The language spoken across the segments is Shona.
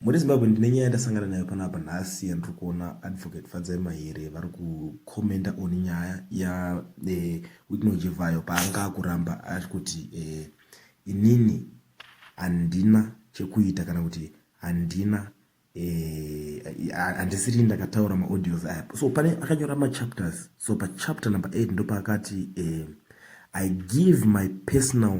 Muri Zimbabwe ndine nyaya ndasangana nayo panapa nhasi yandiri kuona advocate Fadzai Mahere vari kucomenta on nyaya ya eh, Wicknell Jivhayo paanga akuramba ari kuti eh, inini handina chekuita kana kuti handina eh, handisiri ndakataura maaudios aya so pane akanyora machapters so pachapter number 8 ndopaakati eh, i give my personal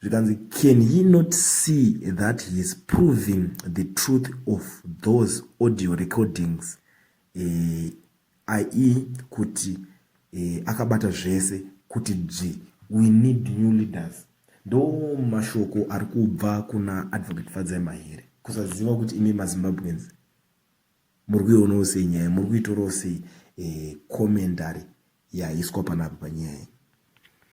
zvikanzi can ye not see that he is proving the truth of those audio recordings eh, ie kuti eh, akabata zvese kuti dzvi we need new leaders ndo mashoko ari kubva kuna advocate fadzai mahere kusaziva kuti imi mazimbabweans muri kuionawo sei nyaya muri kuitorawo sei eh, commentary yaiswa panapa panyaya